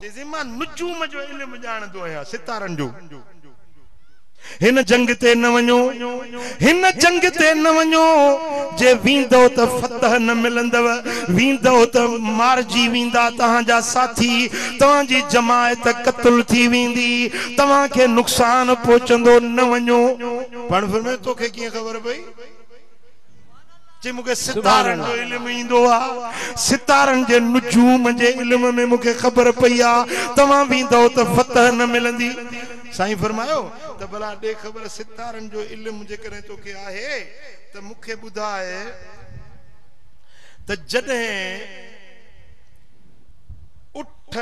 تيزي مان نجوم جو علم ڄاڻندو آهيان، ستارن جو. هن جنگ تي نه وڃو، هن جنگ تي نه وڃو، جي ويندؤ ته فتح نه ملندؤ، ويندؤ ته مارجي ويندا توهان جا ساٿي، توهان جي جماعت قتل ٿي ويندي، توهان کي نقصان پهچندو، نه وڃو. پاڻ فرمايو، توکي ڪيئن خبر پئي؟ جي مون کي ستارن جو علم ايندو آ ستارن جي نجوم جي علم ۾ مون کي خبر پئي آ توهان ويندؤ ته فتح نه ملندي سائين فرمايو ته ڀلا ڏي خبر ستارن جو علم جيڪڏهن تو کي آهي ته مون کي ٻڌاء ته جڏهن اٺ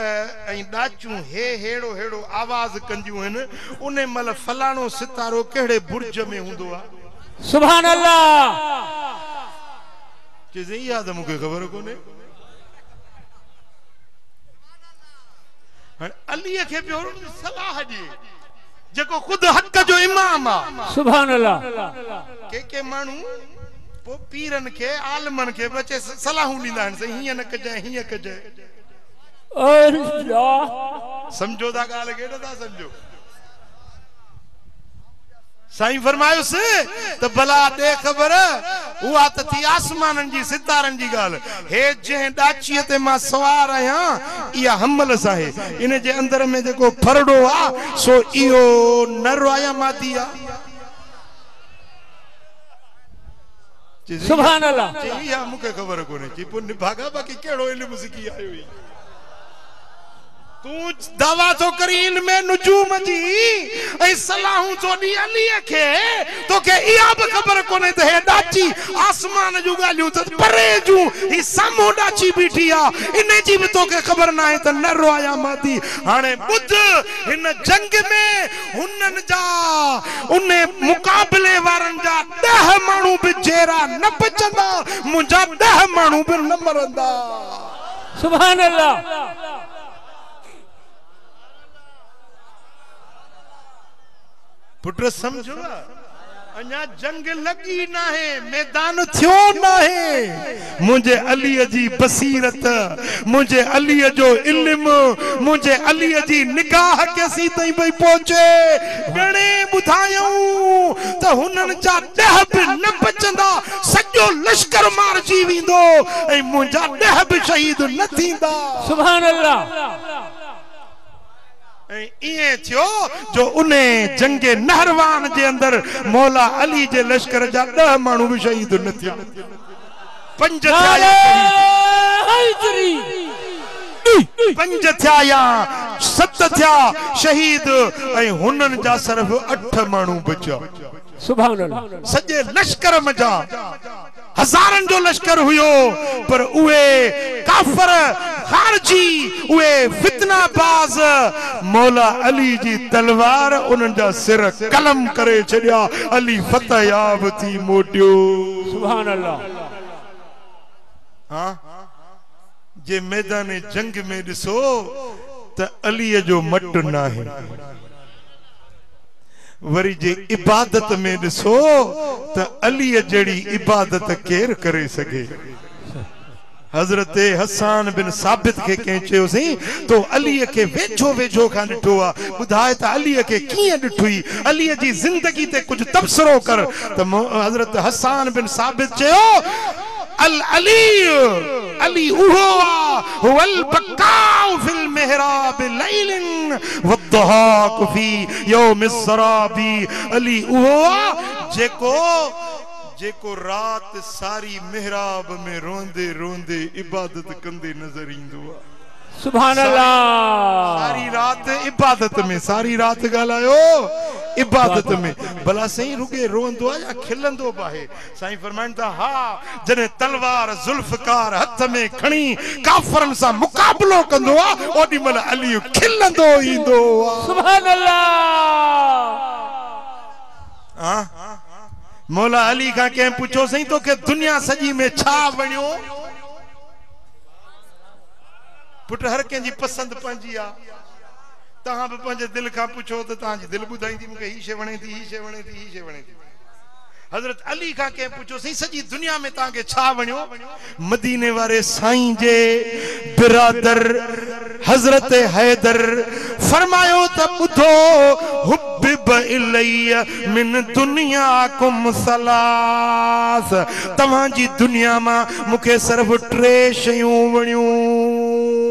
۽ ڏاچون هي هيڙو هيڙو آواز ڪنديون هن ان مهل فلاڻو ستارو ڪهڙي برج ۾ هوندو آ. سبحان الله. چيسين اها ته مون کي خبر ڪونهي. هاڻي علي کي پيو صلاح ڏي جيڪو خود حق جو امام آ. سبحان الله. ڪي ڪي ماڻهو پوء پيرن کي، عالمن کي به اچي صلاحون ڏيندا آهن، سائين هيئن نه ڪجانء، هيئن ڪجانء. سمجهو ٿا ڳالهه ڪي نه ٿا سمجهو؟ سائين فرمايس ته ڀلا ڏي خبر، اها ته ٿي آسمانن جي ستارن جي ڳالهه، هي جنهن ڏاچيء تي مان سوار آهيان، اها حملس آهي، ان جي اندر ۾ جيڪو ڦرڙو آ، سو اهو نر آ يا مادي آ؟ سبحان الله چي يا مون کي خبر ڪونهي چي پو نڀاڳا باقي ڪهڙو علم سکي آيو هي تون دعويٰ ٿو ڪري علم نجوم جي ۽ صلاحون ٿو ڏي علي کي توکي اها به خبر ڪونهي ته هي ڏاچي آسمان جون ڳالهيون ته پري جون هي سامهون ڏاچي بيٺي آ انهي جي به توکي خبر ناهي ته نه رويا مادي هاڻي ٻڌ هن جنگ ۾ هنن جا انهي مقابلي وارن جا ڏهه ماڻهو به جيئرا نه بچندا، منهنجا ڏهه ماڻهو به نه مرندا. سبحان الله. پٽ سمجهه. اڃا جنگ لڳي ناهي، ميدان ٿيو ناهي، منهنجي عليء جي بصيرت، منهنجي عليء جو علم، منهنجي عليء جي نگاهه ڪيسين تائين پئي پهچي، ڳڻي ٻڌايائون ته هنن جا ڏهه به نه بچندا، سڄو لشڪر مارجي ويندو ۽ منهنجا ڏهه به شهيد نه ٿيندا. سبحان الله! ۽ ائين ٿيو جو انهيء جنگ نهروان جي اندر مولا علي جي لشڪر جا ڏهه ماڻهو به شهيد نه ٿيا. پنج ٿيا يا شهيد؟ پنج ٿيا يا ست ٿيا شهيد ۽ هنن جا صرف اٺ ماڻهو بچيا. سبحان الله! سڄي لشڪر منجهان. هزارن جو لشڪر هيو پر اهي ڪافر خارجي اهي فتنه باز مولا علي جي تلوار انهن جا سر قلم ڪري ڇڏيا علي فتح ياب ٿي موٽيو. سبحان الله. ها جي ميدان جنگ ۾ ڏسو ته علي جو مٽ ناهي. وري جي عبادت ۾ ڏسو ته عليء جهڙي عبادت ڪير ڪري سگهي؟ حضرت حسان بن ثابت کي ڪنهن چيوسين، تو عليء کي ويجهو ويجهو کان ڏٺو آ، ٻڌاء ته عليء کي ڪيئن ڏٺئي؟ عليء جي زندگي تي ڪجهه تبصرو ڪر ته حضرت حسان بن ثابت چيو، العلي، علي اهو آ، هو البقاء في المحراب ليل والضحاڪ في يوم السراب، علي اهو آ، جيڪو جيڪو رات ساري محراب ۾ روئندي روئندي عبادت ڪندي نظر ايندو آ. سبحان الله. ساري رات عبادت ۾، ساري رات ڳالهايو عبادت ۾، ڀلا سائين رڳي روئندو آ يا کلندو به آهي؟ سائين فرمائن ٿا، ها! جڏهن تلوار ذوالفقار هٿ ۾ کڻي ڪافرن سان مقابلو ڪندو ها، اوڏي مهل علي کلندو ايندو ها. سبحان الله! ها! مولا علي کان ڪنهن پڇيو، سائين توکي دنيا سڄي ۾ ڇا وڻيو؟ پٽ هر ڪنهن جي پسند پنهنجي آ. توهان به پنهنجي دل کان پڇو ته توهان جي دل ٻڌائيندي مون کي هي شي وڻي ٿي، هي شي وڻي ٿي، هي شي وڻي ٿي. حضرت علي کان ڪنهن پڇيو سائين سڄي دنيا ۾ توهان کي ڇا وڻيو؟ مديني واري سائين جي برادر حضرت حيدر فرمايو ته ٻڌو حبب الي من دنياڪم ثلاث توهان جي دنيا مان مون کي صرف ٽي شيون وڻيون.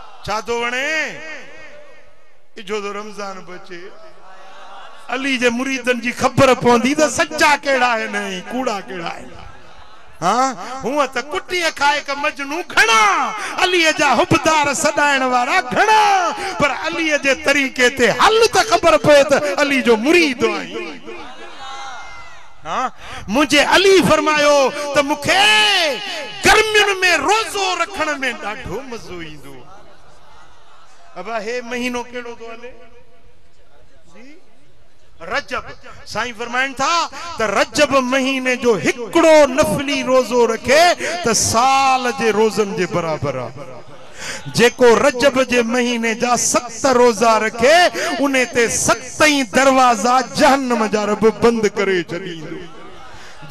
ڇا ٿو وڻي اجهو ٿو رمضان به اچي علي جي مريدن جي خبر پوندي ته سچا ڪهڙا آهن ۽ ڪوڙا ڪهڙا آهن ها هون ته ڪٽي کائڪ مجنو گهڻا علي جا حبدار سڏائڻ وارا گهڻا پر علي جي طريقي تي هل ته خبر پئي ته علي جو مريد آهين منهنجي علي فرمايو ته مون کي گرمين ۾ روزو رکڻ ۾ ڏاڍو مزو ايندو آهي. ابا هي مهينو ڪهڙو ٿو هلي؟ جي رجب. سائين فرمائن ٿا ته رجب مهيني جو هڪڙو نفلي روزو رکي ته سال جي روزن جي برابر آهي. جيڪو رجب جي مهيني جا ست روزا رکي، ان تي ست ئي دروازا جهنم جا رب بند ڪري ڇڏيندو.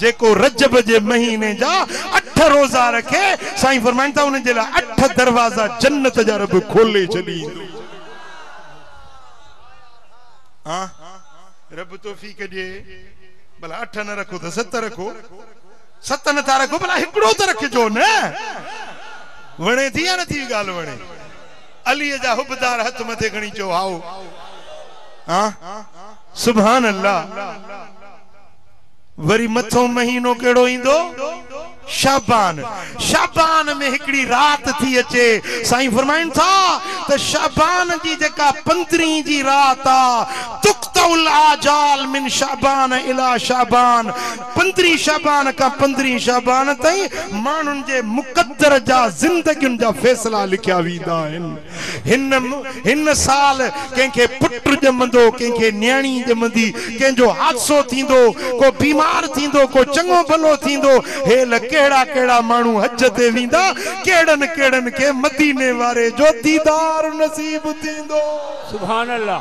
جيڪو رجب جي مهيني جا اٺ روزا رکي، سائين فرمائن ٿا ان جي لاء اٺ دروازا جنت جا رب کولي ڇڏيندو. ها رب توفيق ڏي، ڀلا اٺ نه رکو ته ست رکو. ست نه ٿا رکو ڀلا هڪڙو ته رکجو نه. وڻي ٿي يا نٿي ڳالهه وڻي. عليء جا حبدار هٿ مٿي کڻي چئو هائو ها سبحان الله. وري مٿئون مهينو ڪهڙو ايندو شعبان شعبان ۾ هڪڙي رات ٿي اچي سائين فرمائن ٿا ته شعبان جي جيڪا پندرهين جي رات آ تقطع الاجال من شعبان الي شعبان پندرهين شعبان کان پندرهين شعبان تائين ماڻهن جي مقدر جا زندگين جا فيصلا لکيا ويندا آهن. هن هن سال ڪنهن کي پٽ ڄمندو، ڪنهن کي نياڻي ڄمندي، ڪنهن جو حادثو ٿيندو، ڪو بيمار ٿيندو، ڪو چڱو ڀلو ٿيندو، هيل ڪهڙا ڪهڙا ماڻهو حج تي ويندا، ڪهڙن ڪهڙن کي مديني واري جو ديدار نصيب ٿيندو. سبحان الله.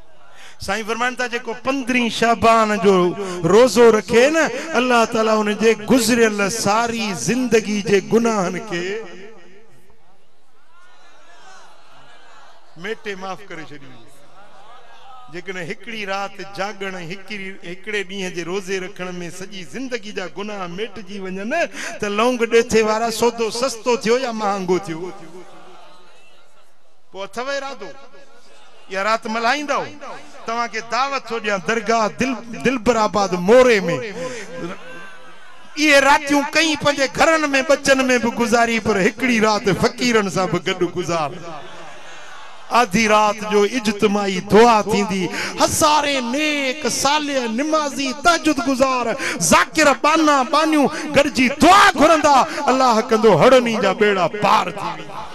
سائين فرمائن ٿا جيڪو پندرهين شعبان جو روزو رکي نه الله تعالي ان جي گذريل ساري زندگي جي گناهن کي ميٽي معاف ڪري ڇڏي جيڪڏهن هڪڙي رات جاڳڻ هڪڙي ڏينهن جي روزي رکڻ ۾ سڄي زندگي جا گناهه ميٽجي وڃن ته لونگ ڏيٿي وارا سودو سستو ٿيو يا مهانگو ٿيو پوء اٿئو ارادو اها رات ملهائيندؤ؟ توهان کي دعوت ٿو ڏيان درگاهه دلبر آباد موري ۾. اهي راتيون ڪئين پنهنجي گهرن ۾ ٻچن ۾ به گذاري پر هڪڙي رات فقيرن سان به گڏ گذار. آڌي رات جو اجتماعي دعا ٿيندي. هزارين نيڪ، صالح، نمازي، تهجد گذار، ذاڪر، ٻانها، ٻانهيون گڏجي دعا گهرندا. الله ڪندو هڙني جا ٻيڙا پار ٿي ويندا.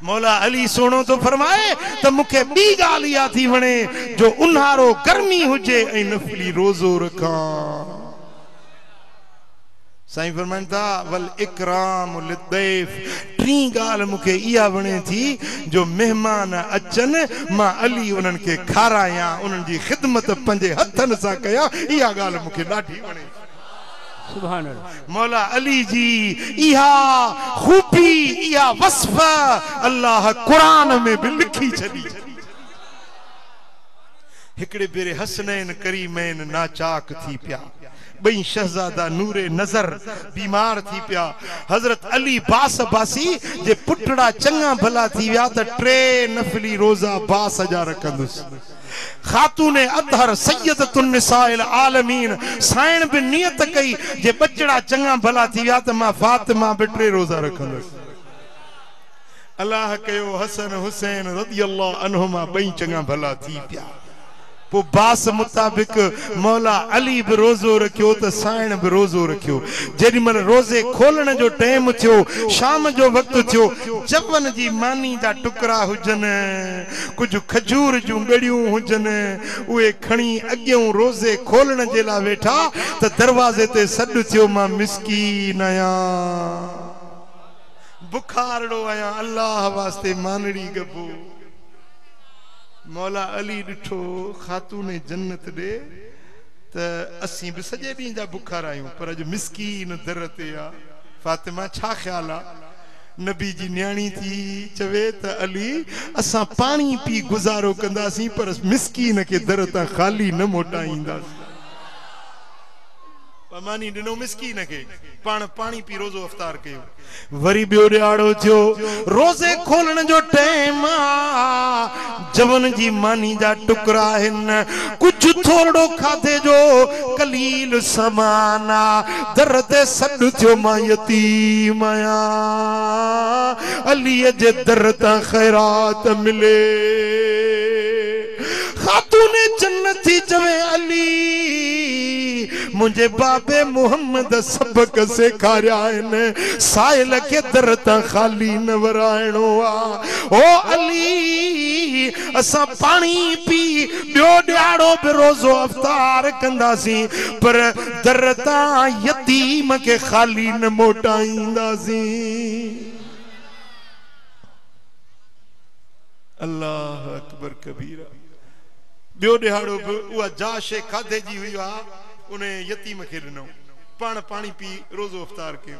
مولا علي سهڻو ٿو فرمائي ته مون کي ٻي ڳالهه اها ٿي وڻي جو اونهارو گرمي هجي ۽ نفلي روزو رکان. سائين فرمائن ٿا والاڪرام للضيف ٽين ڳالهه مون کي اها وڻي ٿي جو مهمان اچن مان علي انهن کي کارايان انهن جي خدمت پنهنجي هٿن سان ڪيان اها ڳالهه مون کي ڏاڍي وڻي ٿي. مولا علي جي اها خوبي اها وصف الله قرآن ۾ به لکي ڇڏي. هڪڙي ڀيري حسنين ڪريمين ناچاڪ ٿي پيا. ٻئي شهزادا نور نظر بيمار ٿي پيا. حضرت علي باس عباسي جي پٽڙا چڱا ڀلا ٿي ويا ته ٽي نفلي روزا باس جا رکندس. خاتون اطهر سيدة النساء العالمين سائڻ به نيت ڪئي جي ٻچڙا چڱا ڀلا ٿي ويا ته مان فاطمه به ٽي روزا رکندس. الله ڪيو حسن حسين رضي الله عنهما ٻئي چڱا ڀلا ٿي پيا. پوء باس مطابق مولا علي به روزو رکيو ته سائڻ به روزو رکيو. جيڏي مهل روزي کولڻ جو ٽيم ٿيو، شام جو وقت ٿيو، جون جي ماني جا ٽڪرا هجن، ڪجهه کجور جون ڳڙيون هجن، اهي کڻي اڳيئون روزي کولڻ جي لاء ويٺا ته دروازي تي سڏ ٿيو، مان مسڪين آهيان، بکارڙو آهيان، الله واسطي مانڙي ڳڀو. مولا علي ڏٺو خاتون جنت ڏي ته اسين به سڄي ڏينهن جا بکارا آهيون، پر اڄ مسڪين در تي آ، فاطمه ڇا خيال آ؟ نبي جي نياڻي ٿي چوي ته علي اسان پاڻي پي گذارو ڪنداسين پر مسڪين کي در تان خالي نه موٽائينداسين. ماني ڏنو مسڪين کي پاڻ پاڻي پي روزو افطار ڪيو. وري ٻيو ڏهاڙو ٿيو روزي کولڻ جو ٽيم آ. جون جي ماني جا ٽڪرا آهن. ڪجهه ٿورڙو کاڌي جو قليل سامان آ. در تي سڏ ٿيو مان يتيم آهيان. عليء جي در تان خيرات ملي. خاتون جنتي چوي علي منهنجي بابي محمد سبق سيکاريائين. سائل کي در تان خالي نه ورائڻو آ. هو علي! اسان پاڻي پي ٻيو ڏيهاڙو به روزو افطار ڪنداسين، پر در تان يتيم کي خالي نه موٽائينداسين. الله اڪبر ڪبيرا. ٻيو ڏيهاڙو به اها جا شيء کاڌي جي هئي، اها انهيء يتيم کي ڏنائون. پاڻ پاڻي پي روزو افطار ڪيو.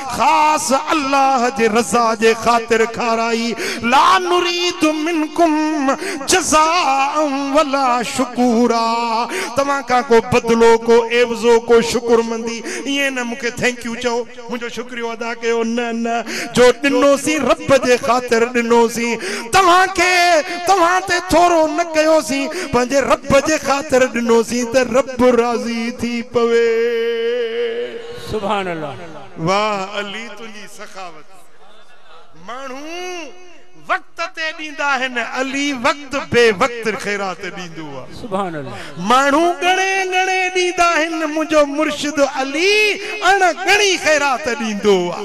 خاص الله جي رضا جي خاطر کارائي، لا نريد منڪم جزاء ولا شڪورا، توهان کان ڪو بدلو، ڪو عيوضو، ڪو شڪرمندي، ائين نه مون کي ٿينڪ يو چئو، منهنجو شڪريو ادا ڪيو، نه نه، جو ڏنوسين رب جي خاطر ڏنوسين، توهان کي، توهان تي ٿورو نه ڪيوسين، پنهنجي رب جي خاطر ڏنوسين ته رب راضي ٿي پوي. سبحان الله. واھ علي تنهنجي سخاوت ماڻهو وقت تي ڏيندا آهن علي وقت بي وقت خيرات ڏيندو آ ماڻهو ڳڻي ڳڻي ڏيندا آهن منهنجو مرشد علي اڻ ڳڻي خيرات ڏيندو آ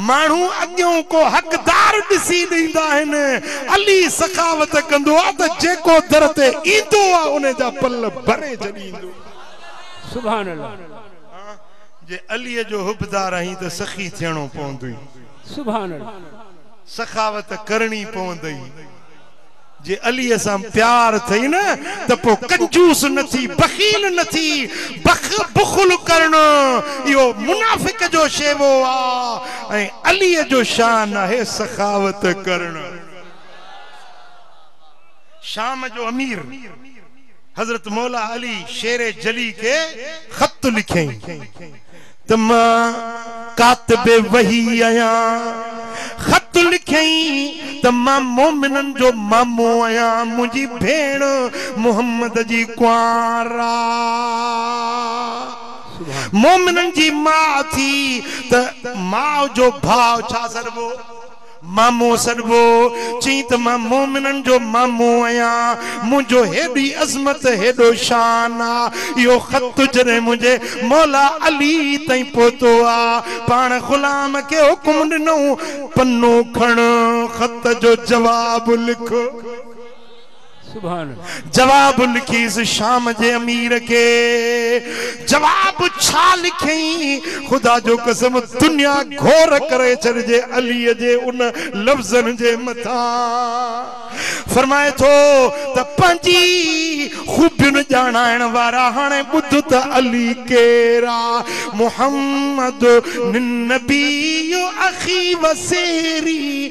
ماڻهو اڳيون ڪو حقدار ڏسي ڏيندا آهن علي سخاوت ڪندو آ ته جيڪو در تي ايندو آ ان جا پل ڀري ڇڏيندو آ. جي عليء جو حبدار آهين ته سخي ٿيڻو پوندئي. سبحان الله. سخاوت ڪرڻي پوندئي. جي عليء سان پيار ٿئي نه ته پوء ڪنجوس نه ٿي، بخيل نه ٿي. بخ، بخل، ڪرڻ اهو منافق جو شيوو آ ۽ عليء جو شان آهي سخاوت ڪرڻ. شام جو امير حضرت مولا علي شير جلي کي خط لکيائين ته مان ڪاتب وحي آهيان خط لکيائين ته مان مومنن جو مامو آهيان منهنجي ڀيڻ محمد جي ڪنوار آ مومنن جي ماء ٿي ته ماء جو ڀاء ڇا سڏبو؟ مامو سڏبو، چيئي ته مان مومنن جو مامو آهيان، منهنجو هيڏي عظمت، هيڏو شان آ، اهو خط جڏهن منهنجي مولا علي تائين پهتو آ، پاڻ غلام کي حڪم ڏنو، پنو کڻ، خط جو جواب لک. جواب لکيس شام جي امير کي جواب ڇا لکيئين خدا جو قسم دنيا گهور ڪري ڇڏجي علي جي ان لفظن جي مٿان فرمائي ٿو ته پنهنجي خوبين ڄاڻائڻ وارا هاڻي ٻڌ ته علي ڪير آ محمد النبي اخي وسيري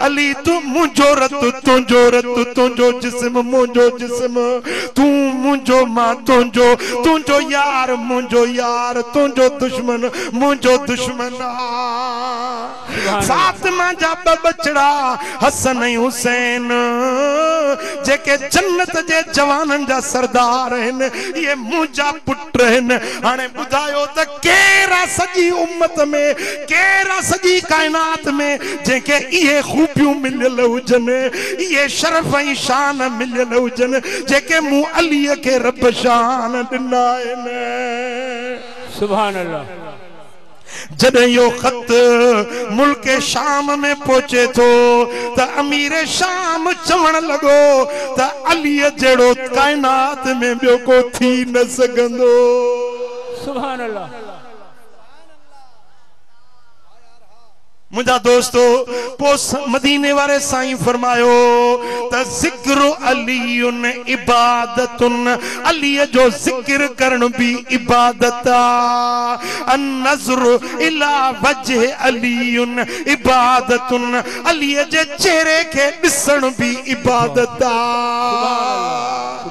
علي تون منهنجو رت تنهنجو رت تنهنجو جسم منهنجو جسم تون منهنجو مان تنهنجو تنهنجو يار منهنجو يار تنهنجو دشمن منهنجو دشمن آ فاطمه جا ٻه ٻچڙا حسن ۽ حسين جيڪي جنت جي جوانن جا سردار آهن اهي منهنجا ٽهن هاڻي ٻڌايو ته ڪير آ سڄي امت ۾ ڪير آ سڄي ڪائنات ۾ جنهن کي اهي خوبيون مليل هجن اهي شرف ۽ شان مليل هجن جيڪي مون علي کي رب شان ڏنا آهن. سبحان الله. جڏهن اهو خط ملڪ شام ۾ پهچي ٿو ته امير شام چوڻ لڳو ته عليء جهڙو ڪائنات ۾ ٻيو ڪو ٿي نه سگهندو. منهنجا دوستو! پوء مديني واري سائين فرمايو ته ذڪر علي عبادة، علي جو ذڪر ڪرڻ به عبادت آ. النظر الي وجه علي عبادة، علي جي چهري کي ڏسڻ به عبادت آ.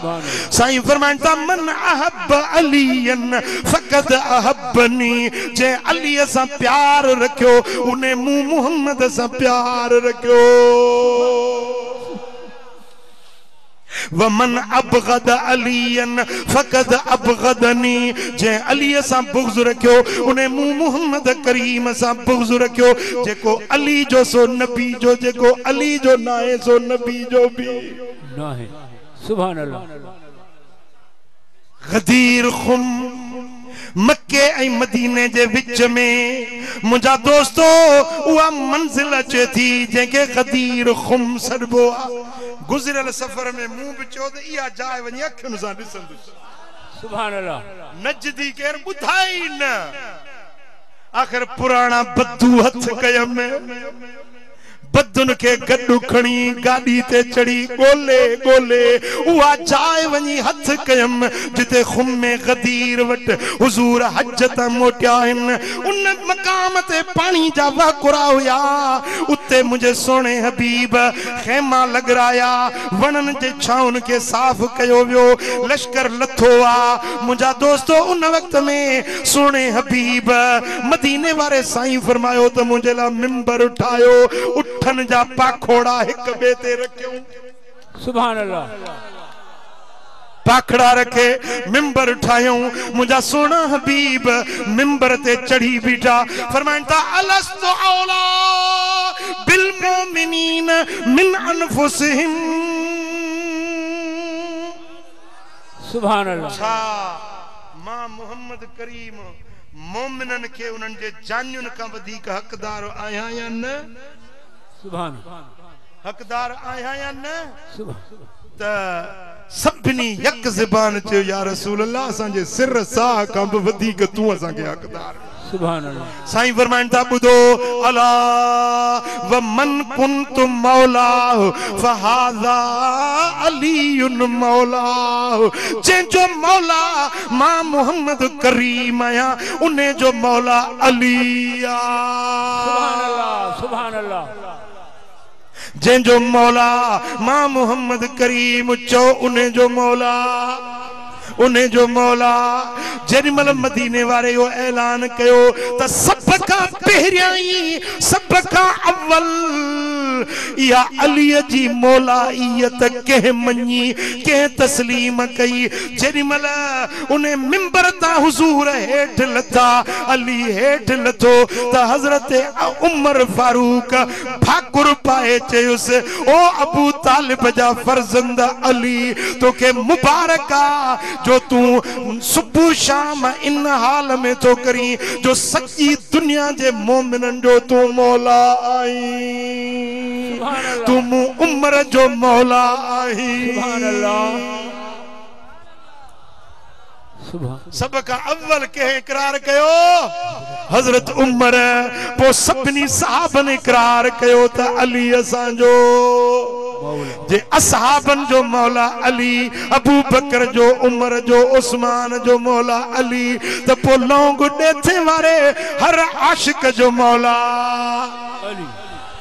سائين فرمائن ٿا من احب عليا فقد احبني جنهن علي سان پيار رکيو انهي مون محمد سان پيار رکيو ومن ابغض عليا فقد ابغضني جنهن علي سان بغض رکيو انهي مون محمد ڪريم سان بغض رکيو جيڪو علي جو سو نبي جو جيڪو علي جو ناهي سو نبي جو به ناهي سبحان الله. غدير خم، مڪي ۽ مديني جي وچ ۾، منهنجا دوستو، اها منزل اچي ٿي، جنهن کي غدير خم سڏبو آ. گذريل سفر ۾ مون به چيو ته اها جاء وڃي اکين سان ڏسندس. سبحان الله. نجدي ڪير ٻڌائي ئي نه. آخر پراڻا بدو هٿ ڪيم. بدن کي گڏ کڻي گاڏي تي چڙهي ڳولي ڳولي اها جاء وڃي هٿ ڪيم جتي خم غدير وٽ حضور حج تان موٽيا آهن. ان مقام تي پاڻي جا وهڪرا هيا. اتي منهنجي سهڻي حبيب خيما لڳرايا. وڻن جي ڇانون کي صاف ڪيو ويو. لشڪر لٿو آ. منهنجا دوستو ان وقت ۾ سهڻي حبيب مديني واري سائين فرمايو ته منهنجي لاء منبر ٺاهيو اٺن جا پاکوڙا هڪ ٻئي تي رکيون. سبحان الله. پاکڙا رکي منبر ٺاهيون منهنجا سهڻا حبيب منبر تي چڙهي بيٺا فرمائن ٿا الست اوليٰ بالمؤمنين من انفسهم. سبحان الله. ڇا مان محمد ڪريم مومنن کي انهن جي جانين کان وڌيڪ حقدار آهيان يا نه؟ سبحان الله. حقدار آهيان يا نه؟ سبحان الله. ته سڀني يڪ زبان چيو يا رسول الله اسان جي سر ساهه کان به وڌيڪ تون اسان کي حقدار آهين. سبحان الله. سائين فرمائن ٿا ٻڌو الا ومن ڪنت مولاه فهذا علي مولاه جنهن جو مولا مان محمد ڪريم آهيان انهي جو مولا علي سبحان الله آ. سبحان الله. جنهن جو مولا مان محمد ڪريم چئو انهي جو مولا انهي جو مولا جيڏي مهل مديني واري اهو اعلان ڪيو ته سڀ کان پهريائين سڀ کان اول اها علي جي مولائيت ڪنهن مڃي ڪنهن تسليم ڪئي جيڏي مهل انهي منبر تان حضور هيٺ لٿا علي هيٺ لٿو ته حضرت عمر فاروق ٺاڪر پائي چيس، او ابو طالب جا فرزند علي! توکي مبارڪ آ جو تون صبح شام ان حال ۾ ٿو ڪرين جو سڄي دنيا جي مؤمنن جو تون مولا آهين. تون مون عمر جو مولا آهين. سڀ کان اول ڪنهن اقرار ڪيو؟ حضرت عمر، پوء سڀني صحابن اقرار ڪيو ته علي اسان جو جي اصحابن جو مولا علي، ابوبڪر جو، عمر جو، عثمان جو مولا علي ته پوء لونگ ڏيٿي واري هر عاشق جو مولا.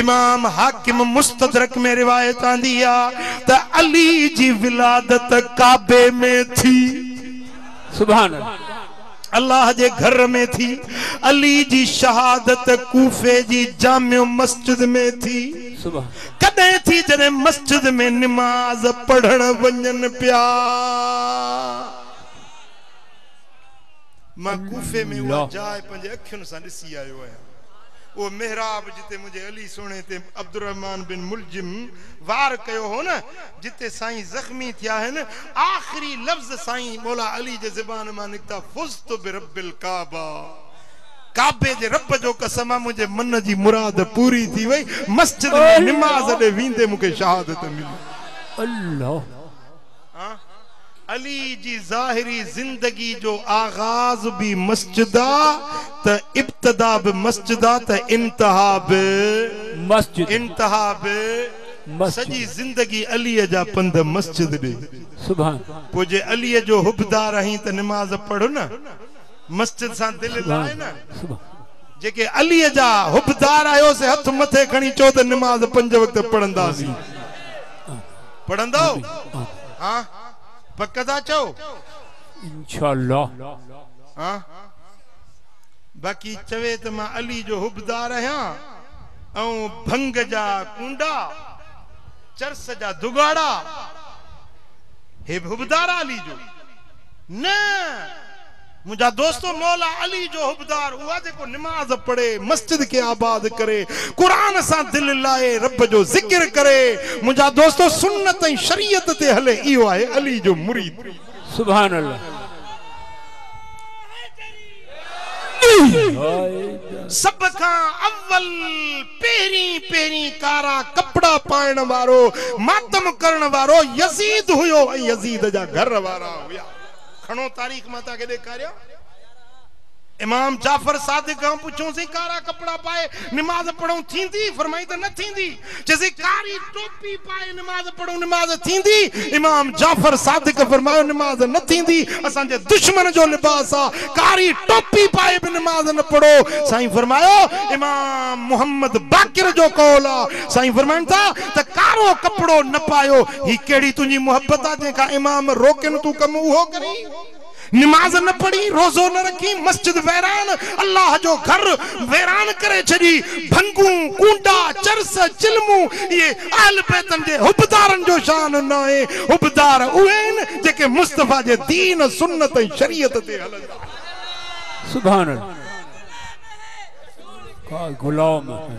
امام حاڪم مستدرڪ ۾ روايت آندي آ ته علي جي ولادت ڪعبي ۾ ٿي. سبحان الله. الله جي گھر ۾ ٿي. علي جي شهادت ڪوفي جي جامع مسجد ۾ ٿي. سبحان الله. ڪڏهن ٿي جڏهن مسجد ۾ نماز پڙهڻ وڃن پيا. مان ڪوفي ۾ اها جاء پنهنجي اکين سان ڏسي آيو آهيان. اهو محراب جتي منهنجي علي سهڻي تي عبدالرحمان بن ملجم وار ڪيو هو نه، جتي سائين زخمي ٿيا آهن، آخري لفظ سائين مولا علي جي زبان مان نڪتا فزت برب الڪعبه، ڪعبي جي رب جو قسم آهي منهنجي من جي مراد پوري ٿي وئي، مسجد ۾ نماز ڏي ويندي مون کي شهادت ملي. علي جي ظاهري زندگي جو آغاز به مسجد آ ته ابتدا به مسجد آ ته انتها به مسجد انتها به مسجد سڄي زندگي علي جا پنڌ مسجد ڏي سبحان پوء جي علي جو حبدار آهين ته نماز پڙهه نه مسجد سان دل لاء سبحان نه سبحان جيڪي علي جا حبدار آهيو سي هٿ مٿي کڻي چئو ته نماز پنج وقت پڙهنداسين پڙهندؤ؟ ها پڪ ٿا چئو؟ انشاء الله. ها باقي چوي ته مان علي جو حبدار آهيان ۽ ڀنگ جا ڪونڊا چرس جا دگاڙا هي به حبدار علي جو نه منهنجا دوستو! مولا علي جو حبدار اهو جيڪو نماز پڙهي، مسجد کي آباد ڪري، قرآن سان دل لائي، رب جو ذڪر ڪري، منهنجا دوستو! سنت ۽ شريعت تي هلي، اهو آهي علي جو مريد. سبحان الله. سڀ کان اول پهرين پهرين ڪارا ڪپڙا پائڻ وارو، ماتم ڪرڻ وارو يزيد هيو ۽ يزيد جا گهر وارا هيا. کڻو تاريخ مان توهان کي ڏيکاريان. امام جعفر صادق کان پڇيوسين ڪارا ڪپڙا پائي نماز پڙهون ٿيندي؟ فرمائين ته نه ٿيندي. چيسين ڪاري ٽوپي پائي نماز پڙهون نماز ٿيندي؟ امام جعفر صادق فرمايو نماز نه ٿيندي اسان جي دشمن جو لباس آ ڪاري ٽوپي پائي به نماز نه پڙهو سائين فرمايو امام محمد باقر جو قول آ سائين فرمائن ٿا ته ڪارو ڪپڙو نه پايو، هي ڪهڙي تنهنجي محبت آ جنهن کان امام روڪين تون ڪم اهو ڪرين، نماز نه پڙهين، روزو نه رکين، مسجد ويران، الله جو گهر ويران ڪري ڇڏي، ڀنگون، ڪونڊا، چرس، چلمون اهي اهل بيتن جي حبدارن جو شان ناهي، حبدار اهي آهن جيڪي مصطفيٰ جي دين، سنت ۽ شريعت تي هلندا آهن. سبحان الله ڪا غلام آهي.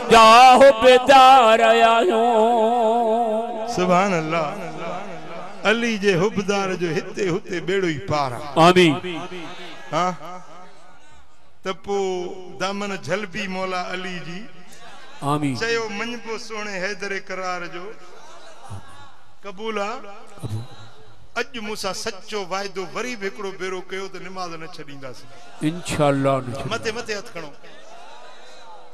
جاه بيدار آهيون. سبحان الله علي جي حبدار جو هتي هتي ٻيڙو ئي پار آ. آمين. ها ته پو دامن جهلبي مولا علي جي. آمين. چيو مڃبو سهڻي حيدر ڪرار جو. قبول آ. قبول. اڄ مون سان سچو واعدو وري به هڪڙو ڀيرو ڪيو ته نماز نه ڇڏينداسين. انشاء الله نه ڇڏينداسين. مٿي مٿي هٿ کڻو.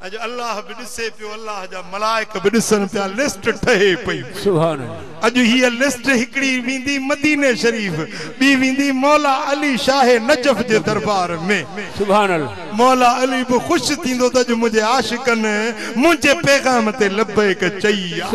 اڄ الله به ڏسي پيو الله جا ملائڪ به ڏسن پيا لسٽ ٺهي پئي اڄ هيء لسٽ هڪڙي ويندي مديني شريف ٻي ويندي مولا علي شاهه نجف جي دربار ۾ مولا علي به خوش ٿيندو ته اڄ منهنجي عاشقن منهنجي پيغام تي لبيڪ چئي آ.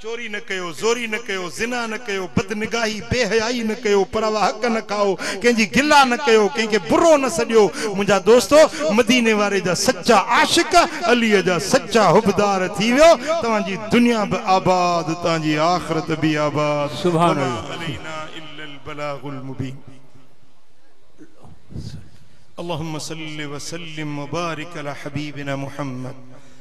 چوري نه ڪيو، زوري نه ڪيو، زنا نه ڪيو، بد نگاهي، بي حيائي نه ڪيو، پر اوهان حق نه کائو، ڪنهن جي گلا نه ڪيو، ڪنهن کي برو نه سڏيو. منهنجا دوستو! مديني واري جا سچا عاشق، عليء جا سچا حبدار ٿي ويو، توهان جي دنيا به آباد، توهان جي آخرت به آباد. سبحان وما الله. علينا الا البلاغ المبين. اللهم صل وسلم وبارڪ علي حبيبنا محمد.